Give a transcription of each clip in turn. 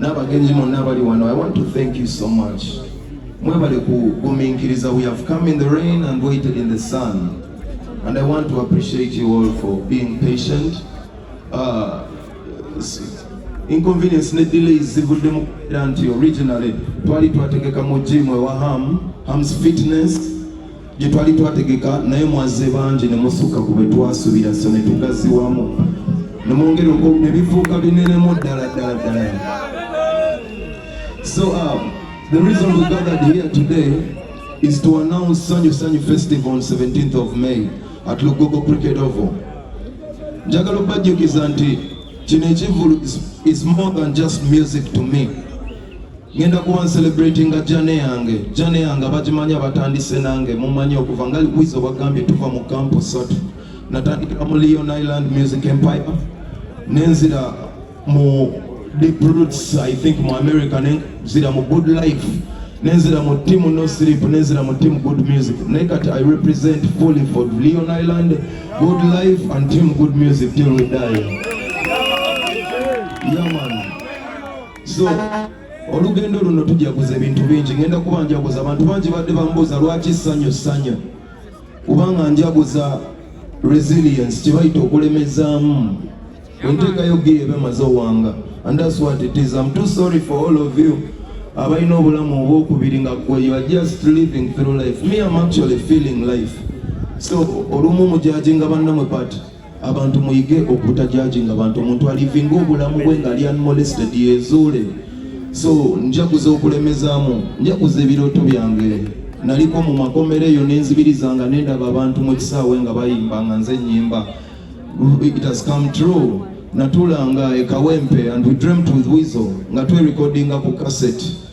n'abagenzi monna abali wano i want to thank you so much mwebale kugumiikiriza we have come in the rain and waited in the sun and i want to appreciate you all for being patient uh, inconvenience ne delays zivudde mu kubeera nti originally twali twategeka mu gym ewa ham hams fitness gye twali twategeka naye mwazze bangi ne musukka ku bwe twasuubira so ne tugaziwamu ne mwongera oko ne bifuuka binenemu ddala ddala ddala so um, the reason we gathered here today is to announce sanyu sanyu festival on 17th of may at lugogo cricket oval njagala okubajjukiza nti kino ekivulu is more than just music to me ngenda kuba ncelebratinga jane yange jane yange abagimanyi abatandise nange mumanyi okuva nga likwiza obagambye tuva mu kampu satu natandikira mu leon island music empire nenzira mu deep roots i think mu america nenzira mu good life nenzira mu team no sleep nenzira mu team good music naye kati i represent fully for leon island good life and team good music till we die yeah, man. so olugendo luno tujaguza ebintu bingi ngenda kuba njaguza abantu bangi badde bambuuza lwaki ssanyu ssanya kubanga njaguza resilience kyebayita okulemezaamu enteekayo giyo ebe maze owanga and that's what it is i'm too sorry for all of you abalina obulamu obwokubiri nga gwe you are just living through life me am actually feeling life so olumu mujajinga bannamwe pati abantu muyige okutajajinga bantu omuntu alivinga obulamu bwe nga ali unmolested yezuule so njaguza okulemezamu njaguza ebirooto byange naliko mu makomero eyo nenzibiriza nga nendaba abantu mu kisaawe nga bayimba nga nze nyimba it has come true natulanga ekawempe and we dreamt with wizo nga twerekodinga ku cassette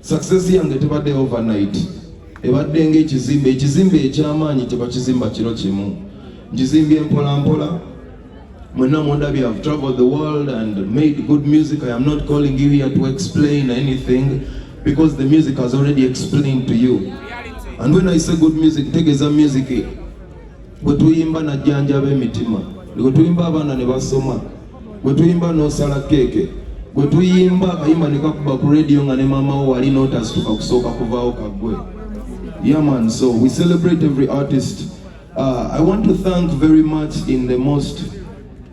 Success yange tebadde overnight, ebadde ng'ekizimbe. Ekizimbe eky'amaanyi tebakizimba kiro kimu, nkizimbye mpola mpola. Mwenna mundabye, I've traveled the world and made good music. I am not calling you here to explain anything because the music has already explained to you. And when I say good music, tegeza music bwe tuyimba najjanjaba emitima bwe tuyimba abaana ne basoma bwe tuyimba n'osala keeke bwe tuyimba akayimba ne kakuba ku rediyo nga ne maama wo wali n'otasituka kusooka kuvaawo kaggwe yaman so we celebrate every artist uh, i want to thank very much in the most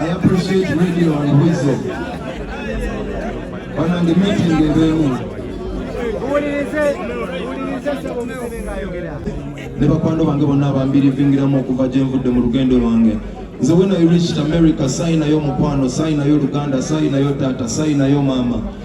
I appreciate radio and wisdom. When I'm the meeting, they will move. ne bakwano bange bonna abambirivingiramu okuva gye nvudde mu lugendo lwange nze wena reached america sayi nayo mukwano sayi nayo luganda sayi nayo taata sayi nayo maama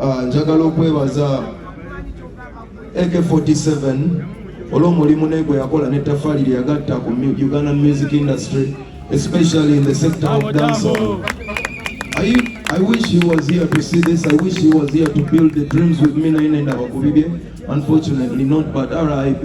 Ah, njagala okwebaza AK47 olw'omulimu naye gwe yakola n'ettafaali lye yagatta ku Uganda music industry especially in the sector of dancehall. I, I wish he was here to see this. I wish he was here to build the dreams with me naye nenda bakubibye. Unfortunately not but RIP.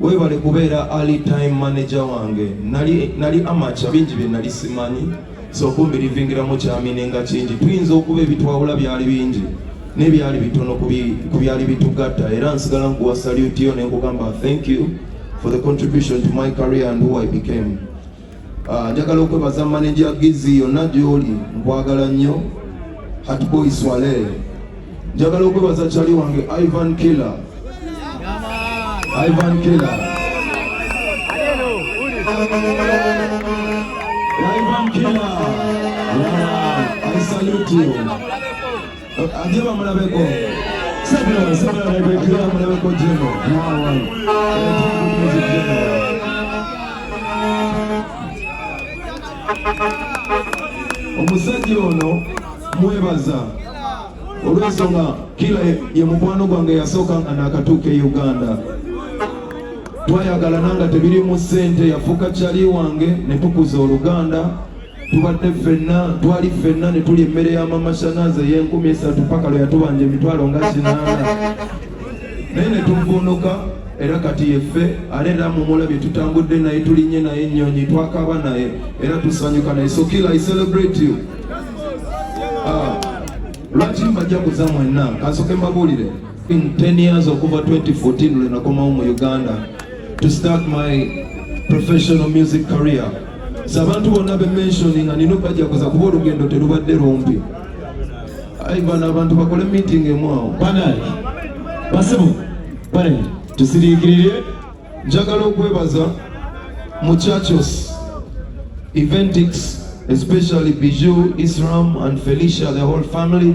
Webale kubeera early time manager wange nali, nali amacha bingi bye nali simanyi so kumbi livingiramu kyamine nga kingi tuyinza okuba ebitwawula byali bingi nebyali bitono ku byali bitugatta era nsigala nkuwa salute yo nenkugamba thank you for the contribution to my career and who I became Ah, njagala uh, okwebaza maneja Gizi yonna gy'oli nkwagala nnyo Hatboy Swale njagala okwebaza kyali wange Ivan Killer Ivan Killer Ivan Killer yeah, I salute you Ajema mulabeko. Sabula sabula mulabeko jema mulabeko jema. Nawa. Omusajja ono mwebaza olw'ensonga kila ye mukwano gwange yasooka nga naakatuuka e Uganda twayagalana nga tebirimu ssente yafuuka kyali wange ne tukuza oluganda tubadde ffenna twali ffenna ne tuli emmere ya mama shanaazi ey'enkumi esatu paka lwe yatubanja emitwalo nga kinaana naye ne tuvuunuka era kati yeffe ale era mumulabye tutambudde naye tulinye naye ennyonyi twakaba naye era tusanyuka naye so kila i celebrate you ah, lwaki mbajaguza mwenna kansoke mbabuulire in 10 years okuva 2014 lwe nakomawo mu uganda to start my professional music career abantu bonna be mentioning nga nina obajaguza kuba olugendo terubadde lumpi ayi bano abantu bakole meeting emu awo banaye basibu banaye tusiriikirire njagala okwebaza mu churches eventix especially bijou isram and felicia the whole family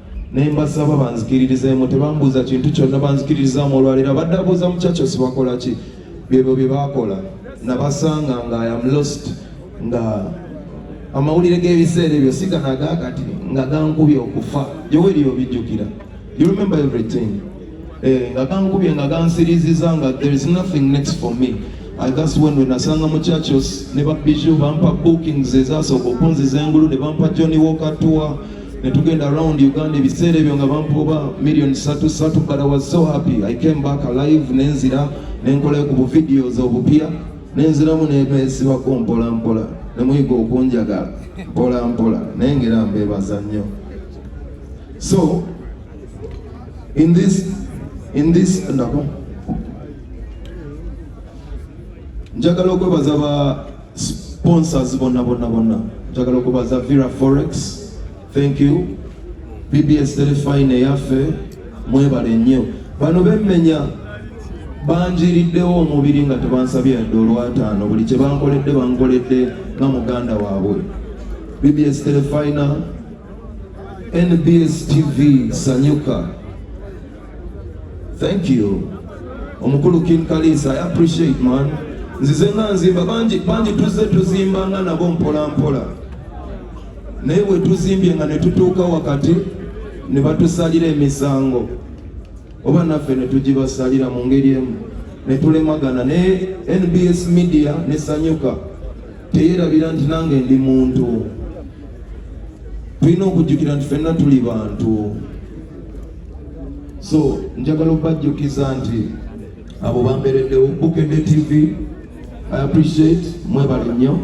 naye mbasaba banzikiririzeemu tebambuuza kintu kyonna banzikiririzaamu olwaleero abadde abuuza mukyakyo sibakola ki byebyo bye baakola nabasanga nga iam lost nga amawulire g'ebiseera ebyo sigana agakati nga gankubye okufa yoweri obijjukira you remember everything eh, nga gankubye nga gansiriziza nga there is nothing next for me that's when we nasanga mu churches ne babiju bampa bookings ezasooka okunziza engulu ne bampa john walker tour ne tugenda around uganda ebiseera ebyo nga bampa oba million satu satu but i was so happy i came back alive nenzira nenkola ku buvideos obupya nenziramu nemesibako mpola mpola nemuyiga okunjagala mpola mpola naye ngera mbebaza nnyo so in this in this ndako njagala okwebaza ba sponsors bonna bonna bonna njagala okubaza vira forex thank you bbs telefine eyaffe mwebale nnyo bano bemmenya banjiriddewo omubiri nga tebansabye yadde olwataano buli kye bankoledde bankoledde nga muganda waabwe bbs telefina nbs tv sanyuka Thank you. Omukulu King Kalisa, I appreciate man. Nzize nga nzimba bangi bangi tuzze tuzimba nga nabo mpola mpola. Naye bwe tuzimbye nga ne tutuuka wakati ne batusalira emisango oba naffe ne tugibasalira mu ngeri emu ne tulemagana ne NBS Media ne Sanyuka teyerabira nti nange ndi muntu. Tulina okujjukira nti fenna tuli bantu. so njagala okubajjukiza nti abo bambereddewo bukede tv i appreciate mwebale nnyo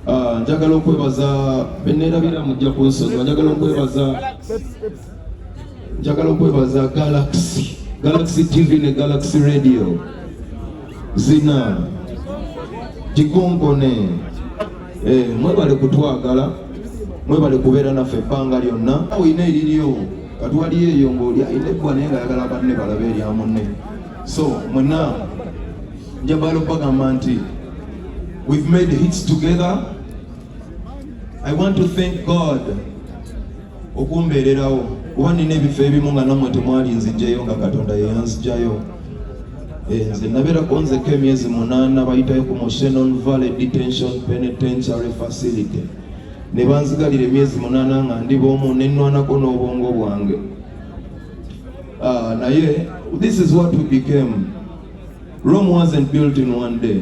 ah, njagala okwebaza benerabira mujja kunsonyiwa njagala okwebaza njagala okwebaza galaxy galaxy tv ne galaxy radio zina gikonkone Eh, mwebale kutwagala mwebale kubeera naffe ebbanga lyonna olina eriryo kati waliyo eyo ngaoli alina eggwa naye nga ayagala banne balabe erya munne so mwena njabala okubagamba nti we've made hits together i want to thank god okumbeererawo kuba nina ebifo ebimu nga namwe temwali nzijeyo nga katonda yeyanzijayo eh, nze nabeerako nzeko emyezi munaana bayitayo ku moshenon valley detention penitentiary facility ne banzigalira emyezi munaana nga ndi boomu nenwanako n'obwongo bwange ah, naye this is what we became rome wasn't built in one day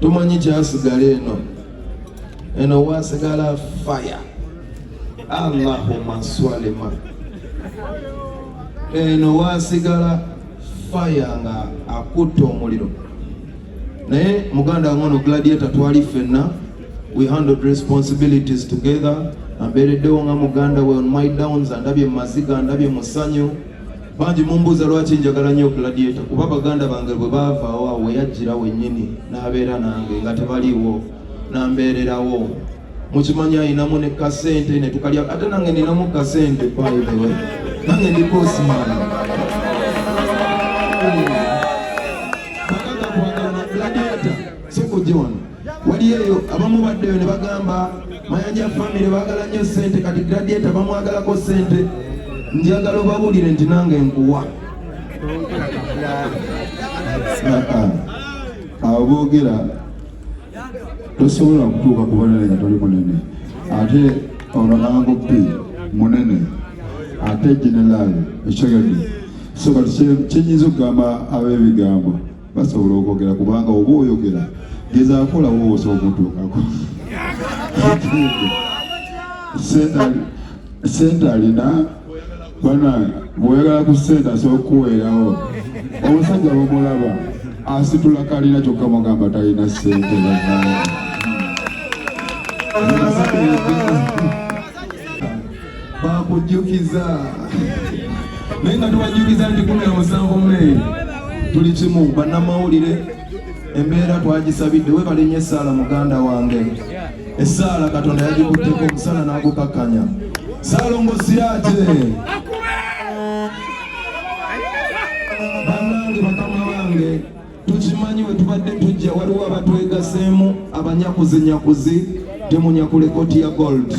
tumanyi kyasigala eno eno wasigala fire allahuma swalima eno wasigala fire nga akutta omuliro naye muganda wange ono gladiator twali fenna we handled responsibilities together ambeereddewo nga muganda we on my downs andabye mu maziga andabye musanyu bangi mumbuuza lwaki njagala nnyo gladiator kuba baganda bange bwe baavaawo awo weyajjira wennyini n'abeera nange nga tebaliiwo nambeererawo mukimanyi ayinamu ne kasente ne tukalya ate nange ninamu kasente baibewe nange ndi kosimaana bakaka kwagala na gladiator sikujiwano wali eyo abamu baddeyo ne bagamba mayanja famire baagala nnyo ssente kati gradieta bamwagalako ssente njagala obabulire nti nange nkuwa abo boogera tosobola kutuuka ku banene nga toli munene ate ono nangopi munene ate generaali ekyogedde so kati kyenyinza okugamba ab'ebigambo basobola okwogera kubanga oba oyogera gezaakola woosa omutuukako sente alina banange bwoyagala ku sente asobola okukuweerawo omusajja bamulaba asitula kalina kyokka mugamba talina sente banange bakujjukiza naye nga tubajjukiza nti kumi na musanvu meyi tuli kimu bannamawulire embeera twagisabidde webale nnyo essaala muganda wange essaala katonda yagikutteko omusana n'agukakkanya salongo siyate banange bakama bange tukimanyi we tubadde tujja waliwo abatwegaseemu abanyakuzinyakuzi temunyakula ekooti ya gold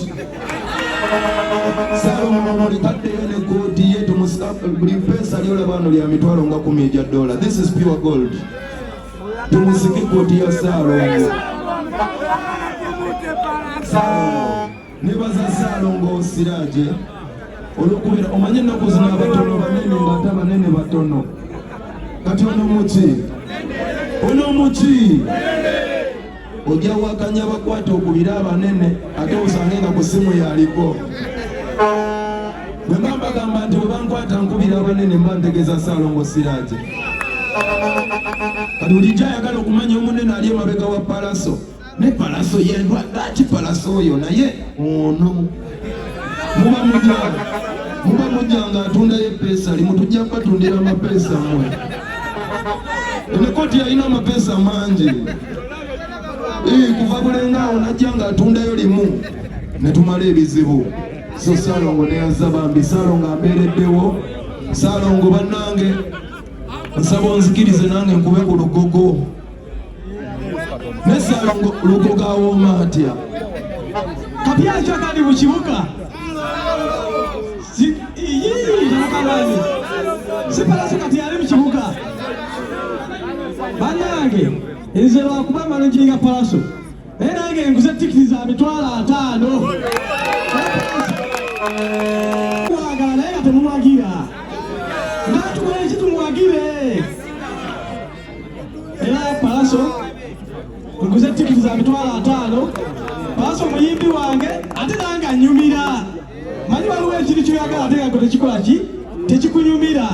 salumolikaddeyo ne kooti ye buli peesa lyolaba wano lya mitwalo nga kumi egya dola this is pure gold tumusike kooti ya saalongo nebaza saalongo siraaje olwokubeera omanye ennaku zino abatono banene ng'ate abanene batono kati ono muki ono muki ojja wakanya bakwata okubira abanene ate osange nga ku simu yaliko bwe mba mbagamba nti bwe bankwata nkubira abanene mba ntegeeza saalongo siraaje kati bulijjo ayagala okumanya omunene ali emabega wa palaso ne palaso yendwa lwaki palaso oyo naye ono muba mujanga muba mujanga atundayo epeesa limu tujja kubatundira amapeesa mwe enekoti yalina amapeesa mangi kuva bulenga awo najja nga atundayo limu netumala ebizibu so salongo neyaza bambi salongo abeereddewo salongo bannange nsaba onzikirize nange nkube ku lugogo nesalongogawooma atya kapya akyakali mu kibuga iyiiakalani sipalaso kati ali mu kibuga banange nze lwakuba manojinga palaso naye nange nkuze tikiti za mitwalo ataano era palaso muguze tikiti za mitwalo ataano palaso muyimbi wange ate nange anyumira manyi waliwo ekintu kyoyagala ate nga tekikola ki tekikunyumira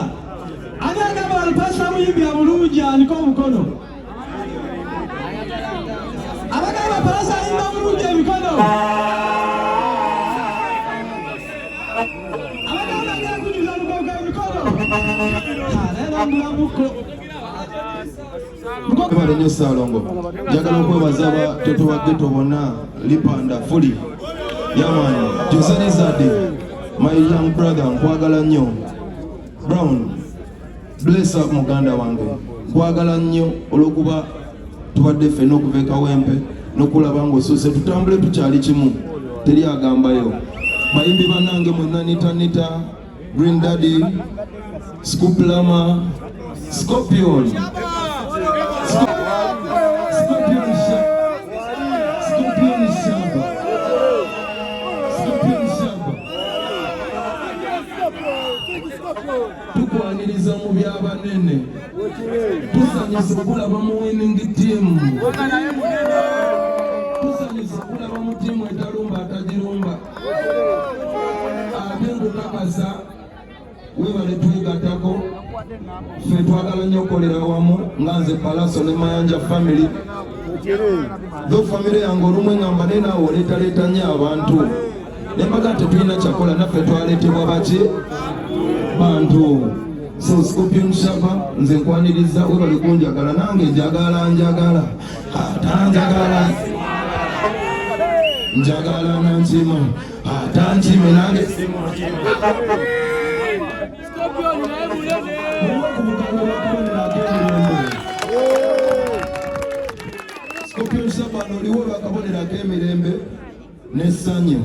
ani agamba alupasa muyimbira bulungi aniko omukono abagamba palasa ayimba bulungi emikono abagamba agakujuza lugogo emikono naye nambulamuko Ebale nyo Salongo. Njagala okwebaza ba toto wa ghetto bonna lipanda fuli. Yaman, Jose Nizade, my young brother, nkwagala nnyo. Brown, bless up muganda wange. Nkwagala nnyo olwokuba tubadde ffenna okuva e Kawempe n'okulaba ng'osuuse tutambule tukyali kimu teri agambayo bayimbi banange mwenanitanita Green Daddy, Scoop Lama, Scorpion. tukwaniriza mu byabanene tusanyusa okulaba mu winning team tusanyusa okulaba mu tiimu etalumba atagirumba ate nkukakasa webale twegatako fe twagala nnyo okukolera wamu nga nze palaso ne mayanja famiry tho famiry yange olumu engamba naye naawe oleetaleeta nnyo abantu nembaga tetulina kyakola naffe twaleetebwa baki bantu so scorpion shaba nze nkwaniriza webale kunjagala nange njagala njagala atanjagala njagala nankimu atankimu nange Scorpion Sabano oliwo bakabonero ak'emirembe n'essanyu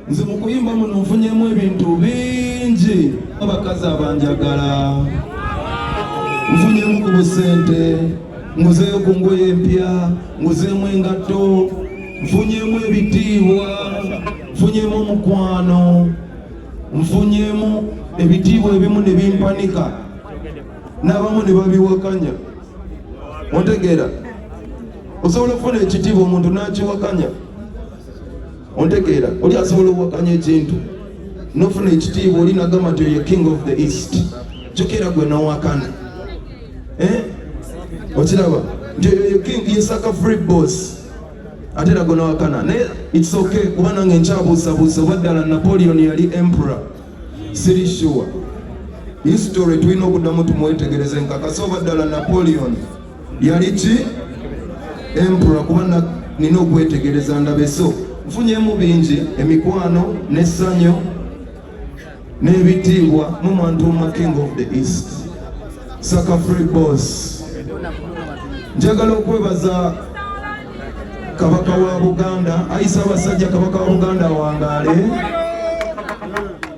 nze mu kuyimba muno nfunyemu ebintu bingi abakazi abanjagala nfunyemu ku busente nguzeeyo ku ngoye empya nguzeemu engatto nfunyemu ebitiibwa nfunyemu omukwano nfunyemu ebitiibwa ebimu ne bimpanika n'abamu ne babiwakanya ontegeera osobola okufuna ekitiibwa omuntu n'akiwakanya ontegeera oli asobola okuwakanya ekintu nofuna ekitiibwa oli nagamba nti oyo king of the east kyokera gwe nowakana eh? okiraba nti oyo king yesaka free boss ate era gwe nawakana naye its okay kuba nange nkyabuusabuusa oba ddala napoleon yali emperor siri sure history tulina okuddamu tumwetegereze nkakasa oba ddala napoleon yali ki empura kuba nina okwetegereza ndabe so nfunyemu bingi emikwano n'essanyu n'ebitiibwa mu mwantu oma king of the east saka free boss njagala okwebaza kabaka wa buganda ayi ssaabasajja kabaka wa buganda awangaale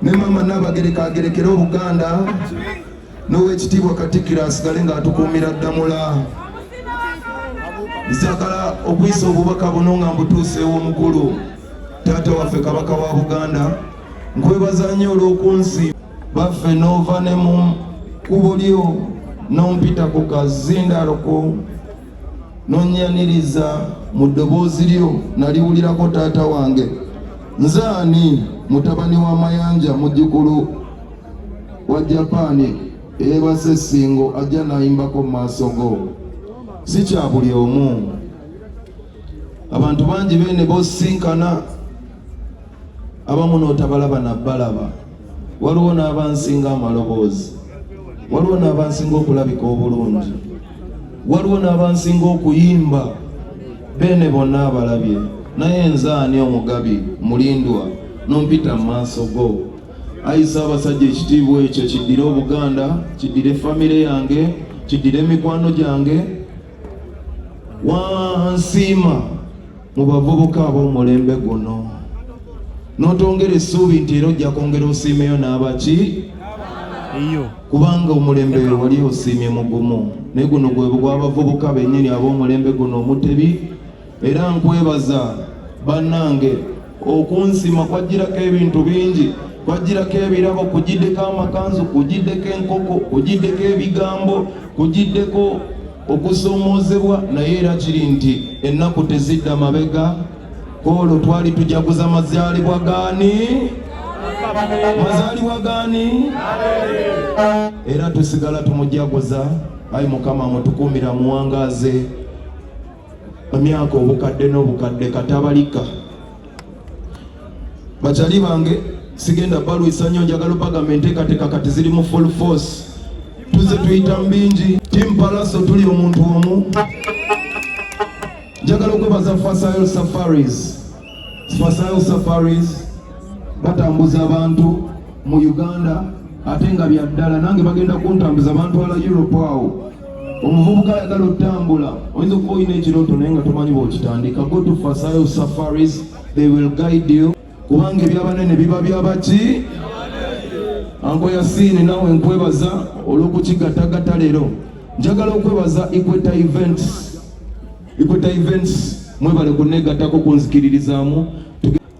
ne maama naabagereka agerekere obuganda n'owekitiibwa katikkiro asigale ng'atukuumira ddamula nzagala okuyisa obubaka buno nga mbutuusa ew'omukulu taata waffe kabaka wa buganda nkwebaza nnyo olw'okunsi baffe n'ova ne mu kubo lyo n'ompita ku kazindaalo ku nonyaniriza mu ddoboozi lyo naliwulirako taata wange nze ani mutabani wa mayanja mujjukulu wa japaani eyeebase essingo ajja nayimbako mu maaso go si kya buli omu abantu bangi bene bosinkana abamu n'otabalaba na balaba waliwo n'abansinga amaloboozi waliwo n'abansinga okulabika obulungi waliwo n'abansinga okuyimba beene bonna abalabye naye nze ani omugabi mulindwa nompita mu maaso go ayisa abasajja ekitiibwa ekyo kiddire obuganda kiddire famire yange kiddire emikwano gyange wansiima mu bavubuka ab'omulembe guno n'otongera essuubi nti era ojja kwongera osiimeyo n'abaki kubanga omulembe wali osiimye mugumu naye guno gwe gw'abavubuka bennyini ab'omulembe guno omutebi era nkwebaza bannange okunsima kwajjirako ebintu bingi kwajjirako ebirabo kugiddeko amakanzu kugiddeko enkoko kugiddeko ebigambo kugiddeko okusoomoozebwa naye era kiri nti ennaku tezidda mabega olwo twali tujaguza mazaalibwa gaani mazaalibwa gaani era tusigala tumujaguza ayi mukama mutukuumira muwangaaze emyaka obukadde n'obukadde katabalika bakyali bange sigenda balwisa nnyo njagala opagamba enteekateeka kati ziri mu full force tuze tuyita mu bingi tim palaso tuli omuntu omu njagala okwebaza fasayo safaris fasayo safaris batambuza abantu mu uganda ate nga byaddala nange bagenda kuntambuza bantwala europe awo omuvubuka ayagala otambula oyinza okuba olina ekirooto naye nga tomanyi bwokitandika go to fasayo safaris they will guide you kubanga ebyabanene biba byabaki anko yasiini nawe nkwebaza olw'okukigatagata leero njagala okwebaza equator events equator events mwebale kunegatako kunzikiririzaamu